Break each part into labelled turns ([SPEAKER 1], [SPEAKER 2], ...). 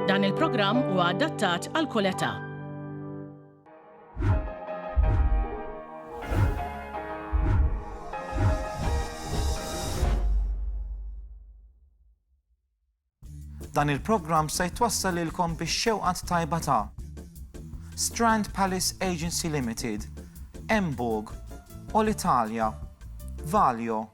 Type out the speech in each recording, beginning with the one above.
[SPEAKER 1] Dan il-programm huwa adattat għal kull età. Dan il-programm se jtwassal ilkom biex xewqat tajba ta' Strand Palace Agency Limited, Emburg, All Italia, Valio,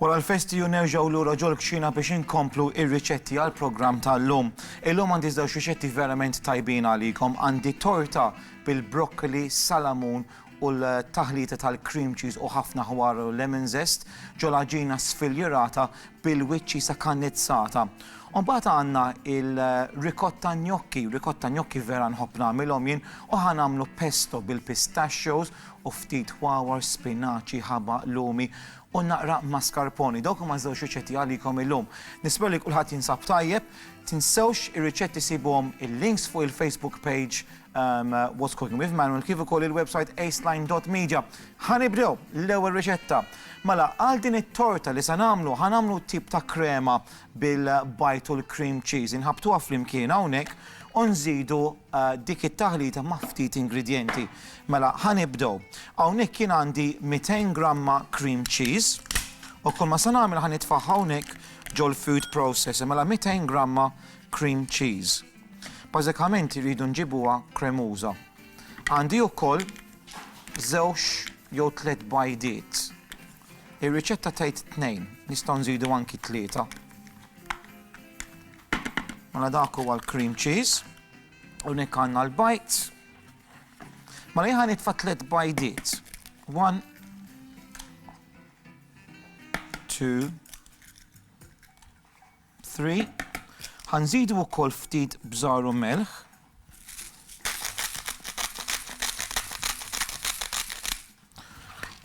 [SPEAKER 1] Wara l-festi hu nerġgħu lura ġol-kċina biex inkomplu r-riċetti għall-programm tal-lum. Illum għandi żewġ riċetti verament tajbin għalikom, għandi torta bil-brokkoli, salamun u l-taħlita tal-cream cheese u ħafna ħwar u lemon zest ġol għaġina sfiljirata bil-wiċċi sakannizzata. U mbagħad għandna il-ricotta gnocchi, ricotta gnocchi vera nħobb nagħmilhom jien u ħa nagħmlu pesto bil-pistachios u ftit wawar, spinaċi, ħabaq, lumi u naqra mascarpone. Dawk huma ż-żewġ riċetti għalikom illum. Nispera li kulħadd jinsab tajjeb. Tinsewx ir-riċetti sibuhom il-links fuq il-Facebook page um, What's Cooking with Manuel kif ukoll il-website aceline.media. Ħanibdew l-ewwel riċetta. Mela għal din it-torta li se nagħmlu, ħanamlu tip ta' krema bil-bajt u l-cream cheese. Inħabbtuha flimkien hawnhekk u nżidu dik it-taħlita ma' ftit ingredjenti. Mela ħa nibdew. Hawnhekk jien għandi 200 gramma cream cheese u kull ma se nagħmel ħa nitfagħha hawnhekk ġol-food processor. Mela 200 gramma cream cheese. Bażikament irridu nġibuha kremuża. Għandi wkoll żewġ jew tliet bajdiet. Ir-riċetta tgħid tnejn, nistgħu nżidu anki tlieta. Mela dak huwa l-cream cheese, u nek għandna l-bajt. Mela jħan nitfa' tliet bajdiet. One, two, 3 Ħa nżidu wkoll ftit bżar u melħ.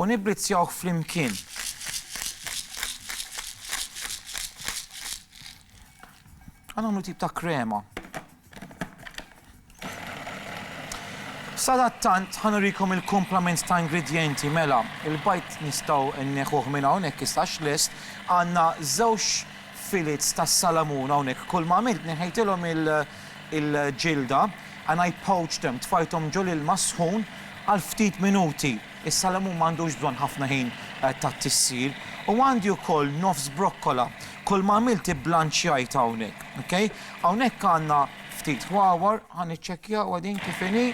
[SPEAKER 1] U nibblizzjawh flimkien. Għan għamlu tip ta' krema. Sadattant ħa nurikom il-kumplament ta' ingredjenti mela, il-bajd nistgħu nneħħuh minn hawn hekk issa għax lest, għandna żewġ filets ta' salamun hawnhekk kull ma għamilt neħejtilhom il-ġilda and I poached them, tfajthom ġol-ilma s-sħun għal ftit minuti. Is-salamun m'għandux bżonn ħafna ħin tat-tissir u għandi wkoll nofs brokkola. Kull ma għamilt ibblanċjajtha hawnhekk. Ok? Hawnhekk għandna ftit wawar, ħa niċċekkjawha din kif inhi.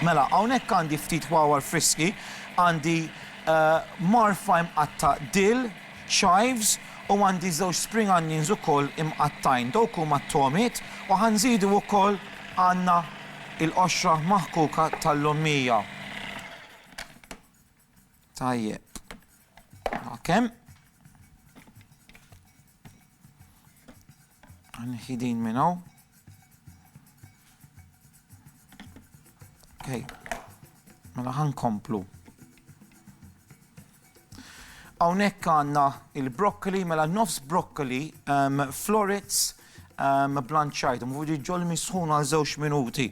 [SPEAKER 1] Mela, hawnhekk għandi ftit wawar friski, għandi marfa imqatta' dill, chives u għandi żewġ spring onions ukoll imqattgħin, dawk huma t-togħmiet u ħa nżidu wkoll għandna l-qoxra maħkuka tal-lommija. Tajjeb. Kemm? Nħi din minn hawn. Okay. Mela ħankomplu. Hawnhekk għandna il-broccoli, mela nofs broccoli, florets, blanċajthom u ġol misħun għal żewġ minuti.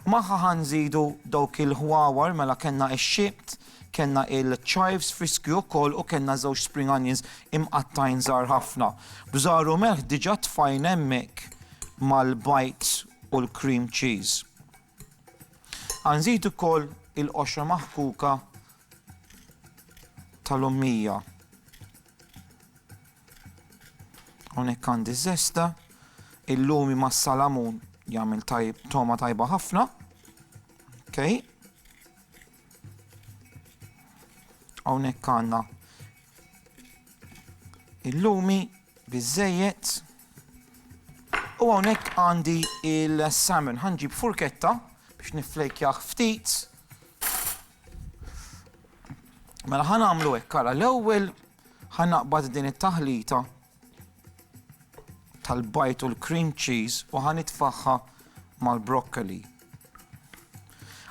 [SPEAKER 1] Magħha ħanżidu dawk il-ħwawar, mela kellna x-xibt, kellna il-chives friski wkoll u kellna żewġ spring onions imqattajn żgħar ħafna. Bżar u melħ diġà tfajna hemmhekk mal-bajd u l-cream cheese. Ħanżid ukoll il-qoxra maħkuka tal-ommija. Hawnhekk għandi żesta, illumi ma' salamun jagħmel tajb toma tajba ħafna. Okay. Hawnhekk għandna illumi biżejjed. U hawnhekk għandi il-salmon ħanġib furketta biex niflejkjah ftit. Mela ħan għamlu hekk, ara l-ewwel ħan naqbad din it-taħlita tal-bajt u l-cream cheese u ħan itfaħħa mal-broccoli.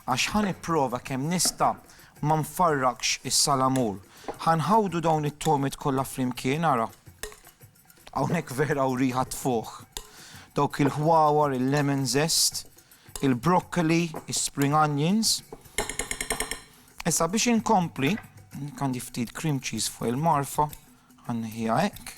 [SPEAKER 1] Għax ħan ipprova kemm nista' ma nfarrakx is-salamur. Ħan ħawdu dawn it-tomit kollha flimkien ara. Hawnhekk vera hawn riħa tfugħ. Dawk il-ħwawar, il-lemon zest, il-broccoli, is-spring onions. Issa biex inkompli, għandi ftit cream cheese fuq il-marfa, ħanniħija hekk.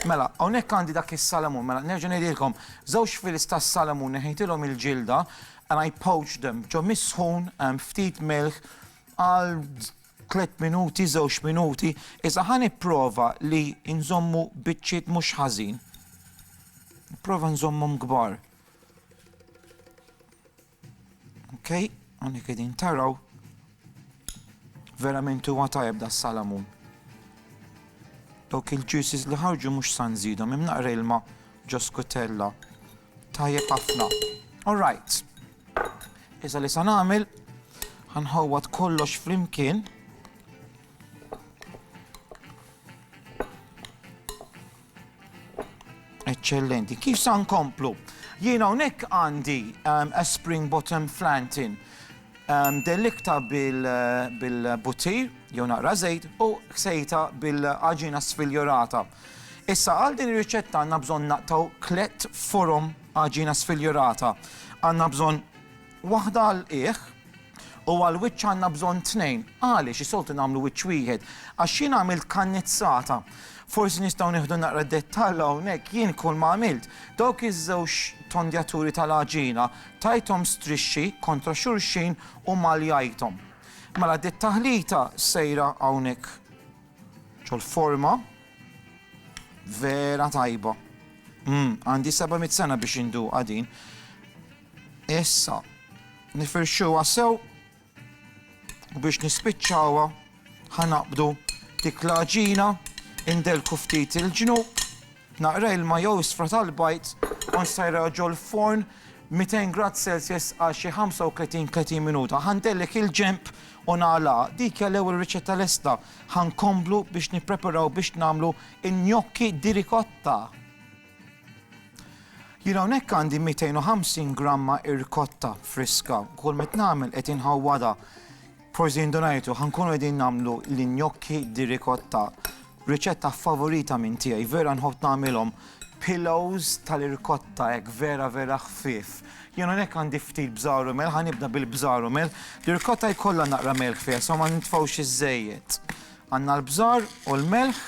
[SPEAKER 1] Mela, hawnhekk għandi dak is-salamun, mela nerġa' ngħidilkom, żewġ fils tas-salamun neħejtilhom il-ġilda and I poached them ġo misħun ftit milħ għal Tliet minuti, żewġ minuti, iżda ħa nipprova li nżommu biċċiet mhux ħażin. Nipprova nżommhom kbar. Ok, għandek qegħdin taraw. Verament huwa tajjeb da salamun. Dawk il-ġusis li ħarġu mhux san żidhom, imnaqra ilma ġoskutella. Tajjeb ħafna. All right. Iżda li sa nagħmel ħanħawwad kollox flimkien. Eċċellenti. Kif sa nkomplu? Jiena hawnhekk għandi um, a spring bottom flantin Delliktha bil-buttir jew naqra żejt u ksejtha bil-għaġina sfiljurata. Issa għal din ir-riċetta għandna bżonn naqtgħu tliet forom għaġina sfiljurata. Għandna bżonn waħda għall-qiegħ u għall-wiċċ għandna bżonn tnejn. Għaliex is-soltu nagħmlu wiċċ wieħed? Għax jien għamilt kannizzata. Forsi nistgħu nieħdu naqra dettall hawnhekk, jien kull ma għamilt, dawk iż-żewġ tondjaturi tal-għaġina Tajthom strixxi kontra xulxin u maljajthom. Mela dit-taħlita sejra hawnhekk ġol-forma vera tajba. Mm, għandi 700 sena biex induqa din. Issa, nifirxuha sew U biex nispiċċawha ħa naqbdu dik l-għaġina, indelku ftit il-ġnub, naqra ilma jew isfra tal-bajd u nsajrha ġo l-forn 200 grad Celsius għal xi 35, 30 minuta. Ħa ndellek il-ġenb u nagħlaqha. Dik hija l-ewwel riċetta lesta. Ħa nkomplu biex nippreparaw biex nagħmlu n-gnocchi di ricotta. Jien hawnhekk għandi 250 gramma irkotta friska, kull met nagħmel qed inħawwadha. Forsi indunajtu ħankunu qegħdin nagħmlu l-injokki di rikotta. Riċetta favorita minn tiegħi, vera nħobb nagħmilhom pillows tal-irkotta hekk vera vera ħfief. Jien hawnhekk għandi ftit bżaru mel, ħanibda bil-bżaru mel. L-irkotta jkollha naqra mel ħfief, so ma nitfgħux iż Għandna l-bżar u l-melħ.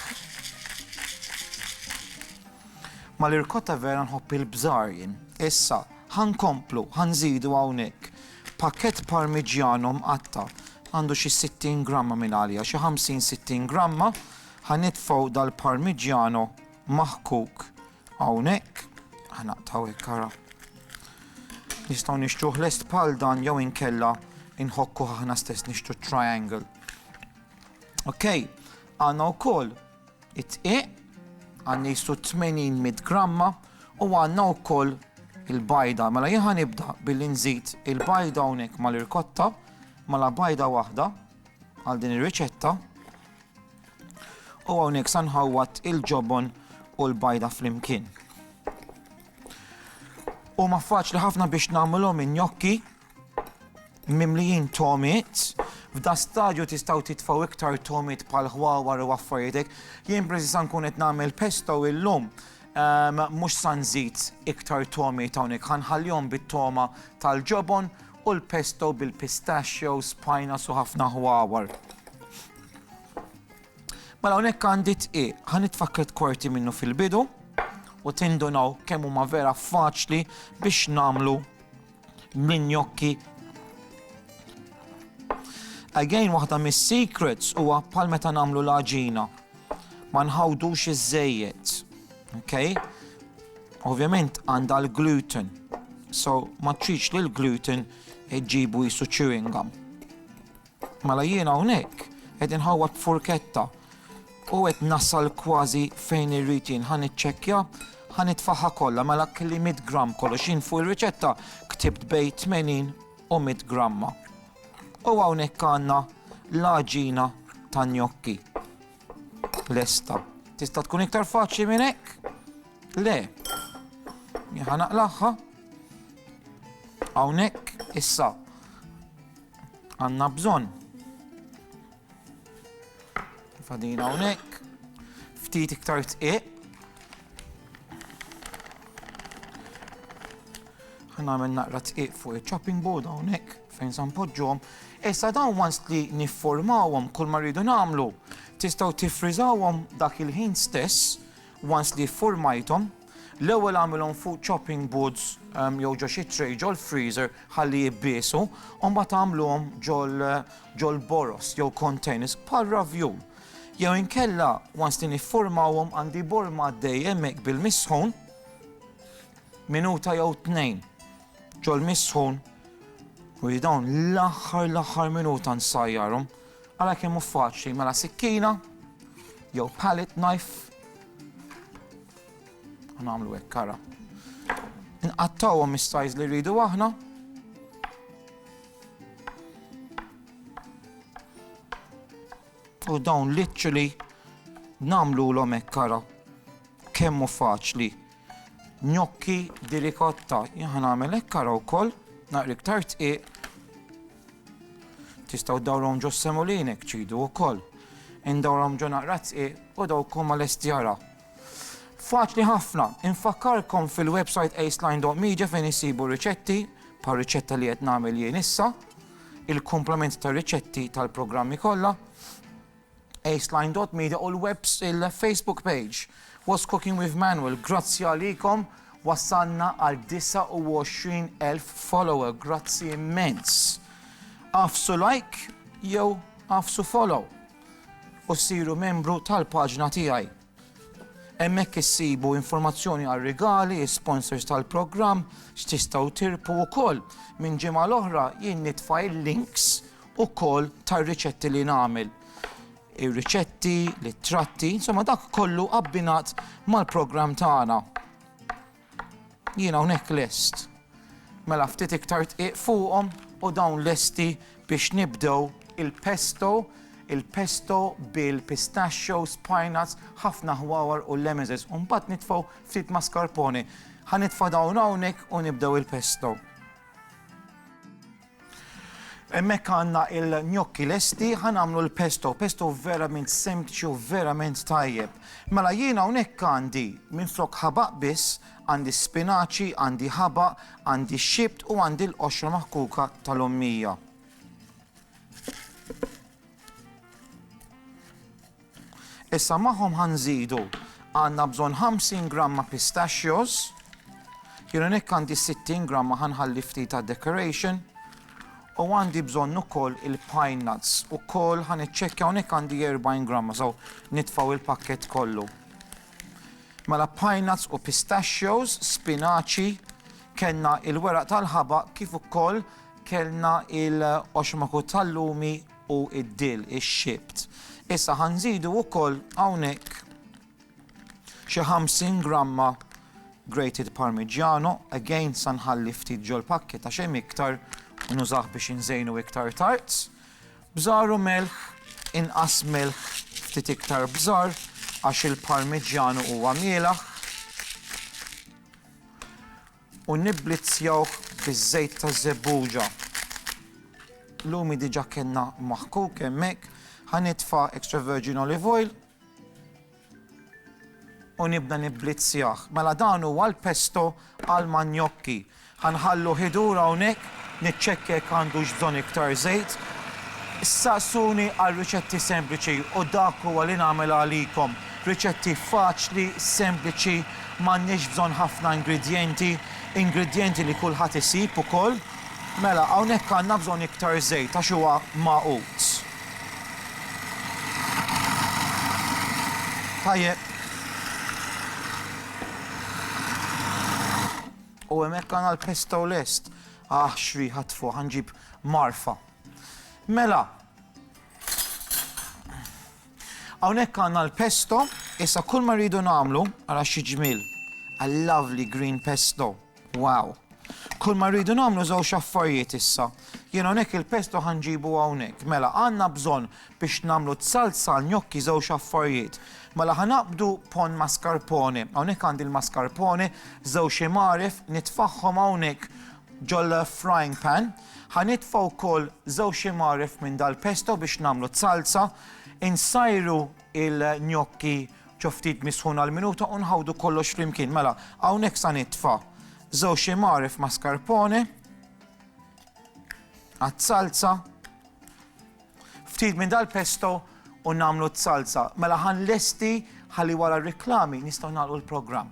[SPEAKER 1] Ma l-irkotta vera nħobb il-bżar jien. Issa, ħankomplu, ħanżidu hawnhekk. Pakkett parmigiano mqatta'. Għandu xi 60 gramma minn għalija, xi 50, 60 gramma. Ħanitfgħu dal-parmigiano maħkuk hawnhekk. Ħanaqtgħu hekk ara. Nistgħu nixtruh lest bħal dan jew inkella inħokku aħna stess nixtru triangle. Ok, għanna u koll it-tqiq, għanna jistu 80 gramma u għanna u koll il-bajda. Mela jħan nibda billi nżid il-bajda unek ma l-irkotta, ma la bajda wahda għal din ir-riċetta. U għonek sanħawat il-ġobon u l-bajda fl-imkien. U ma faċli ħafna biex namlom in-njokki mimlijin tomit, f'da stadju tistgħu titfgħu iktar tomit bħal ħwawar u affarijiet Jien preżi sa nkun qed nagħmel pesto illum ehm, mhux sa nżid iktar tomit hawnhekk ħanħallihom bit-toma tal-ġobon u l-pesto bil-pistachio, spajna su ħafna ħwawar. Mela hawnhekk għandi tqi, ħan itfakket kwarti minnu fil-bidu u tindunaw kemm huma vera faċli biex namlu bl-injokki. Again waħda mis-secrets huwa bħal meta nagħmlu l-għaġina. Ma nħawdux iż-żejjed. Okay? Ovvjament għandha l-gluten. So ma tridx li l-gluten ġibu jisu chewing gum. Mela jien hawnhekk qed inħawwad b'furketta u qed nasal kważi fejn irrid jien. Ħa niċċekkja, ħa nitfagħha kollha, mela kelli mitt gramm kollox. Jien fuq ir-riċetta ktibt bejn 80 u mitt gramma. U hawnhekk għandna l-għaġina ta' gnocchi lesta. Tista' tkun iktar faċli minn hekk? Le. Jien ħa naqlagħha. Hawnhekk issa Għanna bżonn fadina hawnhekk, ftit iktar tqiq. Ħana għamil naqra tqiq fuq il-chopping board hawnhekk fejn san poġġom. Issa dawn once li nifformawhom kull ma rridu nagħmlu, tistgħu tifriżawhom dak il-ħin stess once li formajthom L-ewwel agħmilhom fuq chopping boards jew ġo xi tray ġol-freezer ħalli jibbisu u mbagħad agħmluhom ġol-boroż jew containers bħal ravjun. Jew inkella once li niffurmawhom għandi borma għaddej hemmhekk bil-misħun minuta jew tnejn ġol-misħun u li dawn l-aħħar l-aħħar minuta nsajjarhom għala kemm hu faċli mela sikkina jew pallet knife Nagħmlu hekk kara. Nqattawhom is-sajz li rridu aħna. U dawn literally nagħmlu l hekk kara. Kemmu faċli. Njokki di rikotta. Jien nagħmel hekk kara wkoll, naqri iktar tqiq. Tistgħu dawrom ġo semulinek ċidu wkoll. Indawrom ġo naqra tqiq u dawkom mal-estjara. Faċli ħafna, infakkarkom fil-website aceline.media fejn issibu riċetti, bħal riċetta li qed nagħmel jien issa, il-komplement tar-riċetti tal-programmi kollha, aceline.media u l-webs il-Facebook page. What's Cooking with Manuel, grazzi għalikom wasalna għal 29,000 follower, grazzi immens. Afsu like jew afsu follow. u ssiru membru tal-paġna tiegħi. Hemmhekk issibu informazzjoni għal rigali, is-sponsors tal-programm, x'tistgħu tirpu wkoll. Minn ġimgħa l-oħra jien nitfa' il-links ukoll tar-riċetti li nagħmel. Ir-riċetti, l-ittratti, insomma dak kollu abbinat mal-programm tagħna. Jien hawnhekk lest. Mela ftit iktar dqiq fuqhom u dawn lesti biex nibdew il-pesto, il-pesto bil-pistachios, pine nuts, ħafna ħwawar u lemezes u mbagħad nitfgħu ftit mascarpone. Ħa nitfa' dawn hawnhekk u nibdew il-pesto. Hemmhekk għandna il-gnocchi lesti, ħa nagħmlu l-pesto, pesto verament sempliċi u verament tajjeb. Mela jien hawnhekk għandi minflok ħabaq biss, għandi spinaċi, għandi ħabaq, għandi xibt u għandi l-qoxra maħkuka tal-ommija. Issa magħhom ħa nżidu, għandna bżonn 50 gramma pistachios, jien hawnhekk għandi 60 gramma ħa nħalli ftit għad-decoration, u għandi bżonn ukoll il-pine nuts ukoll ħa niċċekkja hawnhekk għandi 40 gramma, so nitfgħu il-pakkett kollu. Mela pine nuts u pistachios, spinaċi, kellna il-weraq tal-ħabaq kif ukoll kellna il-qoxmaku tal-lumi u d-dill, ix-xibt. Issa ħa nżidu wkoll hawnhekk xi 50 gramma grated parmigiano, again sa nħalli ftit ġol-pakkett għax hemm iktar u nużah biex inżejnu iktar tard. Bżar u melħ, inqas melħ ftit iktar bżar għax il-parmigiano huwa mielaħ. U nibblizzjawh biż-żejt taż-żebbuġa. Lumi diġà kellna maħkuk hemmhekk. Ħa nitfa' extra virgin olive oil u nibda nibblizzjah. Mela dan huwa l-pesto għall-manjokki. Ħa nħalluh idur hawnhekk, niċċekkja jekk għandux bżonn iktar żejt. Ssaqsuni għal riċetti sempliċi u dak huwa li nagħmel għalikom. Riċetti faċli, sempliċi, m'għandniex bżonn ħafna ingredjenti, ingredjenti li kulħadd isib ukoll. Mela, hawnhekk għandna bżonn iktar żejt għax huwa magħqud. Tajjeb. U hemmhekk għandna l-pesto lest. Aħ, x'riħa tfuħ, ħanġib marfa. Mela, Hawnhekk għandna l-pesto, issa kull ma rridu nagħmlu, ara xi ġmiel, a lovely green pesto, wow. Kull ma rridu nagħmlu żewġ affarijiet issa. Jien hawnhekk il-pesto ħanġibu hawnhekk. Mela għandna bżonn biex nagħmlu t-salsa gnocchi żewġ affarijiet. Mela ħanaqbdu pon mascarpone. Hawnhekk għandi l-mascarpone, żewġ imaref, nitfaħħom hawnhekk ġol frying pan. Ħa nitfa' wkoll żewġ imgħaref minn dal-pesto biex nagħmlu z-zalza. Insajru l-gnocchi ġo ftit misħun għal minuta u nħawdu kollox flimkien. Mela, hawnhekk sa nitfa' żewġ imgħaref mascarpone għaz-zalza. Ftit minn dal-pesto u nagħmlu z-zalza. Mela ħa nlesti ħalli wara r-riklami nistgħu nagħlqu l-programm.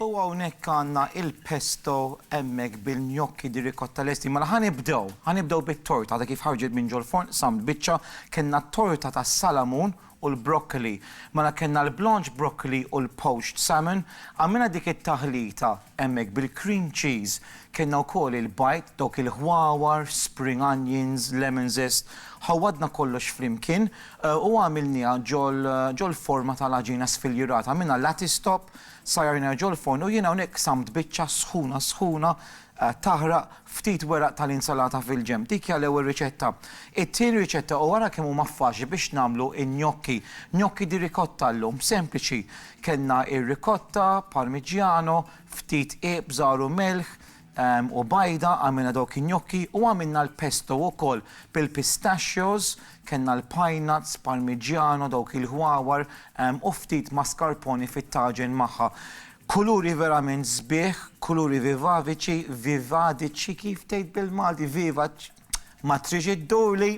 [SPEAKER 1] U hawnhekk għandna il-pesto hemmhekk bil-gnocchi di ricotta lesti. Mela ħa nibdew, ħa nibdew bit-torta għadha kif ħarġet minn ġol-forn, samt biċċa, kellna t-torta tas-salamun u l-broccoli. Mela kellna l-blanched broccoli u l-poached salmon, għamilna dik it-taħlita hemmhekk bil-cream cheese, kellna wkoll il-bajd, dawk il-ħwawar, spring onions, lemon zest, ħawwadna kollox flimkien U għamilniha ġol-forma tal-għaġina sfiljurata, minnha l-lattice top, sajjarnejha ġol-forn u jien hawnhekk qsamt biċċa sħuna sħuna taħraq ftit weraq tal-insalata fil-ġenb. Dik hija l-ewwel riċetta. It-tieni riċetta u ara kemm huma faċli biex nagħmlu n-gnocchi. Gnocchi di ricotta llum, sempliċi. Kellna r-ricotta, parmigiano, ftit qiegħ b'żgħar u melħ, u bajda, għamilna dawk in-gnocchi u għamilna l-pesto wkoll bil-pistachios, kellna l-pinenuts, parmigiano, dawk il-ħwawar u ftit mascarpone fit-taġen magħha. Kuluri verament sbieħ, kuluri vivaviċi, vivadiċi kif tgħid bil-Malti, vivaċ, ma trix iddurli!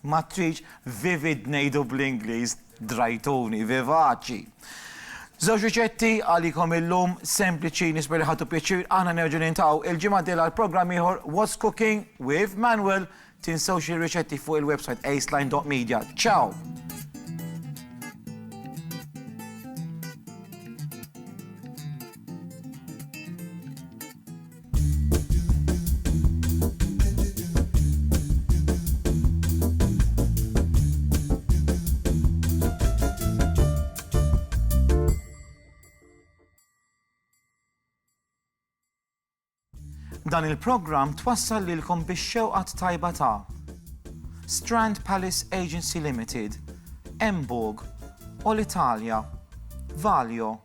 [SPEAKER 1] Ma tridx vivid ngħidu bl-Ingliż drajtuni, vivaċi. Żewġ riċetti għalikom illum, sempliċi, nisper li ħadtu pjaċir, aħna nerġgħu nintaqgħu il-ġimgħa d-dieħla għal programm ieħor What's Cooking with Manuel. Tinsewx li r-riċetti fuq il-website aceline.media. Ciao! Dan il-programm twassal lilkom bix-xewqat tajba ta' Strand Palace Agency Limited, Emburg, All Italia, Valio,